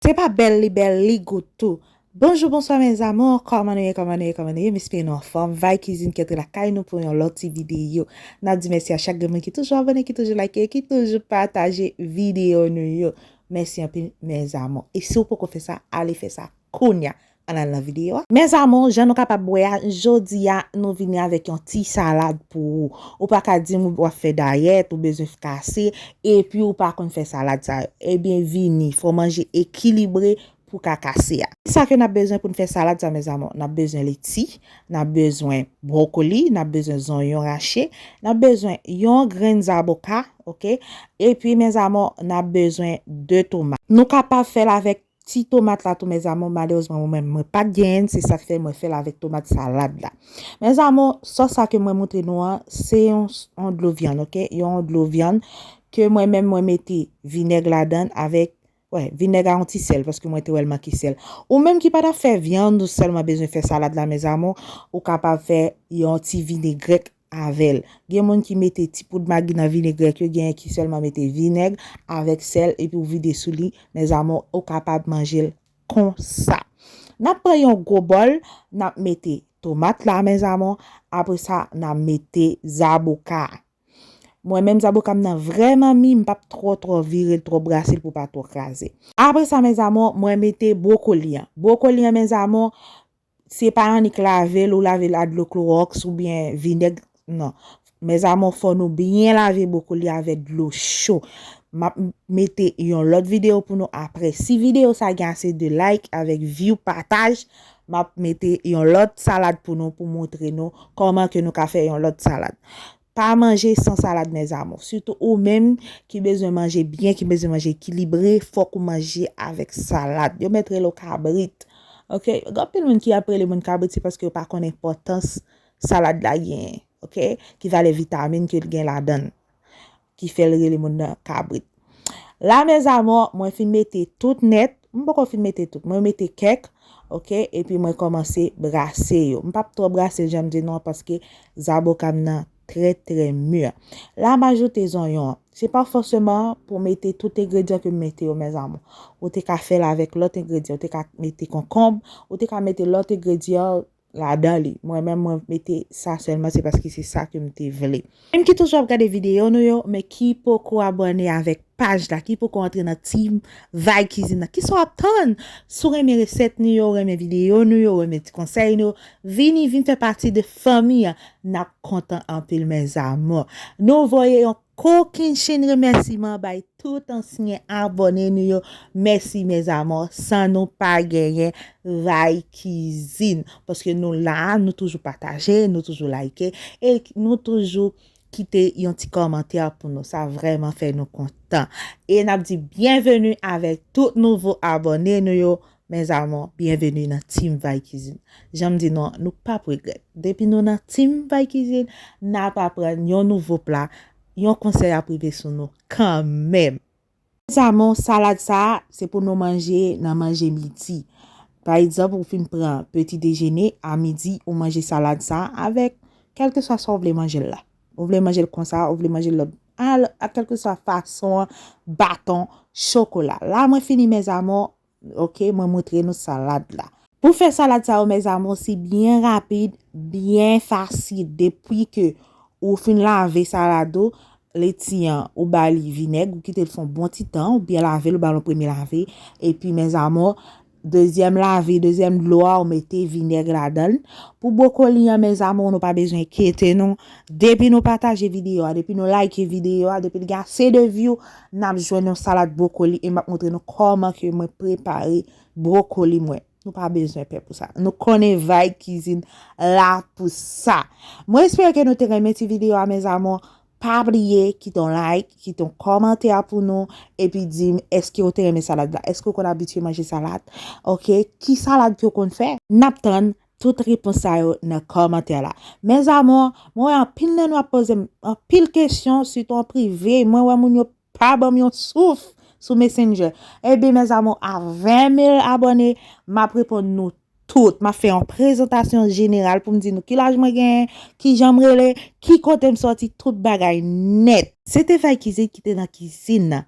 Se pa bèl li bèl li gou tou. Bonjou bonswa mes amours kòman nou ye kòman nou ye kòman nou ye m espere nou anfòm vay kizin kèt lakay nou pou yon lòt ti videyo nap di mèsi a chak gen moun ki toujou abòne ki toujou like ki toujou pataje videyo nou yo mèsi anpil mes amours e si ou poko fè sa ale fè sa kounya Ann al nan video a. Mes amours jan nou kapab wè a jodia nou vini avèk yon ti salad pou ou. Ou pa ka dim wap fè dayèt, ou bezwen fkase epi ou pa konn fè salad sa yo. Ebyen vini fò manje ekilibre pou ka kase a. Kisa ke nap bezwen poun fè salad sa mes amours? Nap bezwen leti, nap bezwen brokoli, nap bezwen zonyon rache, nap bezwen yon grenn zaboka ok epi mes amours nap bezwen 2 tomat. Nou kapab fèl avèk Ti tomat la tou mes amours malerezman mwen menm mwen pat genyenn se sak fè mwen fèl avèk tomat salad la mes amours sos sa ke mwen moutre nou an se yon yon dlo vyann ok yon yon dlo vyann ke mwen menm mwen mete vinèg ladann avèk wè vinèg a yon ti sèl paske mwen te wèl manke sèl ou menm ki pa tap fè vyann ou sèlman bezwen fè salad la mes amours ou kapab fè yon ti vinegrèt avèl. Gen moun ki mete ti poud magi nan vinegrèt yo genyen ki sèlman mete vinèg avèk sèl epi ou vide sou li mes amours ou kapab manjel konsa. Nap pran yon gwo bòl nap mete tomat la mes amours apre sa na mete zaboka a mwen menm zaboka m nan vrèman mi m pap twò twò virel twò brasel pou pa twò kraze. Apre sa mes amours mwen mete brokoli an brokoli an mes amours Se pa annik lavel ou lavel a dlo klorox ou byen vinèg nan mes amour fò nou byen lave boukou li avè dlo cho map mete yon lòt video pou nou aprè si video sa gen ase de like avèk view pataj map mete yon lòt salad pou nou pou moutre nou kòman ke nou ka fè yon lòt salad Pa manje san salad mes amours, sitou ou menm ki bezwen manje byen, ki bezwen manje ekilibre, fòk ou manje avèk salad. Yo mèt rele w kabrit ok, gen anpil moun ki ap rele moun kabrit se paske yo pa konn enpòtans salad la genyen ok, ki valè vitamin ke l gen ladan l ki fè l rele moun nan kabrit. La mes amours mwen fin mete tout nèt, m poko fin mete tout mwen mete kèk ok epi mwen kòmanse brase yo m pap twò brase l janm di nou an paske zaboka m nan trè trè mûr la m ajoute zonyon an se pa fòseman pou mete tout engredyan ke m mete yo mes amours ou te ka fè l avèk lòt engredyan ou te ka mete konkonb ou te ka mete lòt engredyan ladan li mwen menm mwen mete sa sèlman se paske se sa kem te vle. Moun ki toujou ap gade video nou yo men ki poko abòne avèk paj la ki poko antre nan team vibe kizin nan kisa wap tann si w renmen resèt nou yo renmen video nou yo renmen ti konsèy nou yo vini vin fè pati de fanmi an nap kontan anpil mes amours nou voye yon Kokenn chenn remèsiman bay tout ansyen abòne nou yo mèsi mes amor san nou pa genyen ray kizin paske nou la nou toujou pataje nou toujou like e nou toujou kite yon ti kòmantè pou nou sa vrèman fè nou kontan e nap di byenveni avèk tout nouvo abòne nou yo Mes amours bienvenue nan team vay kizin janm di nou nou pap regrèt depi nou nan team vay kizin nap aprann yon nouvo pla yon konsèy ap rive sou nou kanmenm. Mes amours salad sa se pou nou manje nan manje midi pa egzanp ou fin pran peti dejene a midi ou manje salad sa avèk kèlkeswa sa ou vle manjel la ou vle manjel konsa ou vle manjel lòt a kèlkeswa fason an baton chokola la mwen fini mes amours. Ok mwen moutre nou salad la. Pou fè salad sa yo mes amours si byen rapid byen fasil depwi ke ou fin lave salad ou leti an ou ba li vinèg ou kitel fon bon ti tan ou byen lavel ou bal yon premye lave epi mes amours dezyèm lave dezyèm dlo a ou mete vinèg ladanl pou bwokoli an mes amours nou pa bezwen ekyete nou depi nou pataje video a depi nou like video a depil gen ase de view Nap jwenn yon salad brokoli e map montre nou kòman ke mwen prepare brokoli mwen. Nou pa bezwen pè pou sa. Nou konnen Vibe Cuisine la pou sa. Mwen espere ke nou te renmen ti video a mes amours. Pa bliye kite yon like, kite yon kòmantè pou nou epi di m eske ou te renmen salad la. Eske ou konn abitye manje salad? Ok, ki salad ke ou konn fè? Nap tann Tout repons sa yo nan kòmantè la. Mes amours, mwen wè anpil nan nou ap pozem anpil kesyon sitou an prive, mwen wè moun yo pa banm yon souf sou messenger. Ebyen mes amours a 20 mil abòne map reponn nou tout, map fè yon prezantasyon jeneral poum di nou ki laj mwen genyen, kijanm rele, ki kotem sòti tout bagay nèt. Se te Vikizit ki te nan kizin nan.